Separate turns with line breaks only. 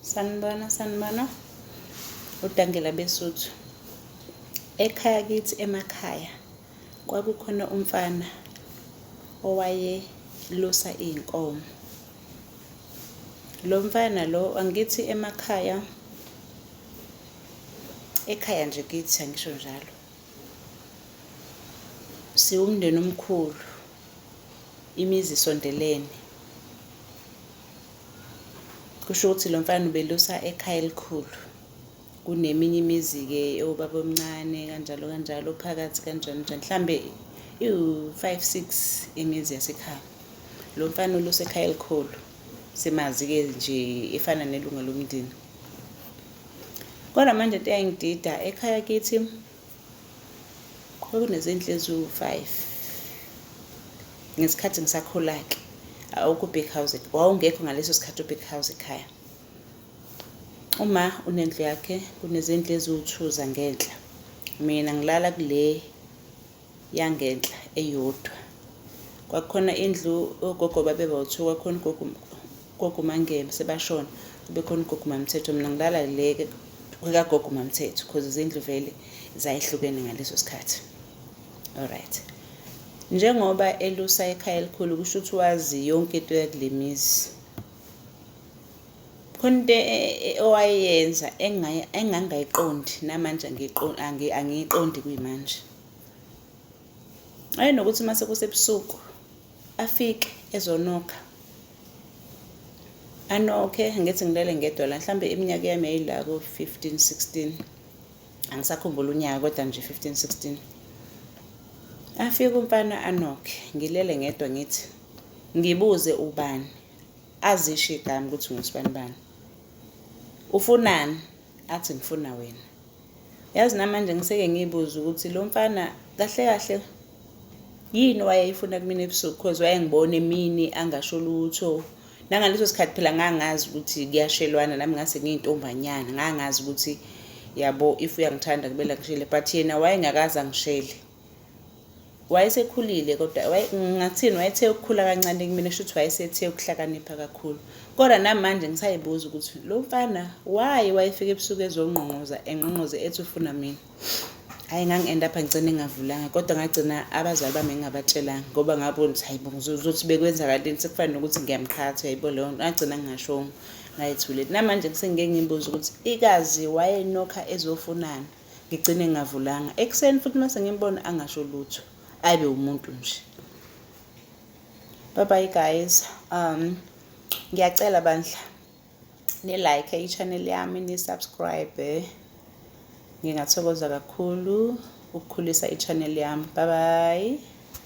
sanibona sanibona udangela besuthu ekhaya kithi emakhaya kwakukhona umfana owayelusa iy'nkomo lo mfana lo angithi emakhaya ekhaya nje kithi angisho njalo siwumndeni omkhulu imizi isondelene Kusho ukuthi lo mfana ubelusa ekhaya elikhulu kuneminye imizi-ke ewubaba omncane kanjalo kanjalo phakathi kanjani njani mhlambe iwu-five six imizi yasekhaya lo mfana ulusa ekhaya elikhulu simazi-ke nje efana nelunga lomndeni kodwa manje into eyayingidida ekhaya kithi kwakunezinhle eziwu-five ngesikhathi ngisakhula-ke awukho u-big house wawungekho ngaleso sikhathi u-big house ekhaya uma unendlu yakhe kunezindlu eziwu-two zangenhla mina ngilala kule yangenhla eyodwa kwakukhona indlu ogogo babeba-two kwakukhona ugogo Gogo Mangebe sebashona kubekhona ugogo Mamthetho mina ngilala leke kwekagogo Mamthetho because izindlu vele zayihlukene ngaleso sikhathi alright njengoba elusa ekhaya elikhulu kusho ukuthi wazi yonke into yakulemizi khona into e, e, e, owayenza engangayiqondi namanje angiyiqondi kuyimanje ayenokuthi uma sekusebusuku afike ezonokha anokhe ngithi ngilele ngedwa la mhlawumbe iminyaka yami yayila ko-fifteen sixteen angisakhumbula unyaka kodwa nje fifteen sixteen afike umfana anokhe ngilele ngedwa ngithi ngibuze ubani azisho igama ukuthi ngusibani bani ufunani athi ngifuna wena Yazi namanje ngiseke ngiyibuza ukuthi lo mfana kahle kahle yini wayeyifuna kumina ebusuku cause wayengibona emini angasho lutho nangaleso sikhathi phela ngangazi ukuthi kuyashelwana nami ngase ngiyintombanyana ngangazi ukuthi yabo if uyangithanda kumele angishele but yena wayengakaze angishele wayesekhulile kodwa ngathini wayethe ukukhula kancane kumina shuthi wayesethe ukuhlakanipha kakhulu kodwa namanje ngisayibuza ukuthi lo mfana waye wayefika ebusuku ezongqongqoza engqongqoze ethi ufuna mina hhayi ngangi-enda apha ngigcine ngingavulanga kodwa ngagcina abazali bami ngingabatshelanga ngoba ngabona ukuthi hayi bo ngizothi bekwenzakalini sekufanele nokuthi ngiyamqhatha yayibo leyo nto ngagcina ngingashongo ngayethuleli namanje kusengike ngiyibuza ukuthi ikazi wayenokha ezofunani ngigcine ngingavulanga ekuseni futhi mase ngimbona angasho lutho ayibe umuntu nje bye bye guys um ngiyacela bandla ni like i-channel yami ni subscribe ngingathokoza kakhulu ukukhulisa i-channel yami bye bye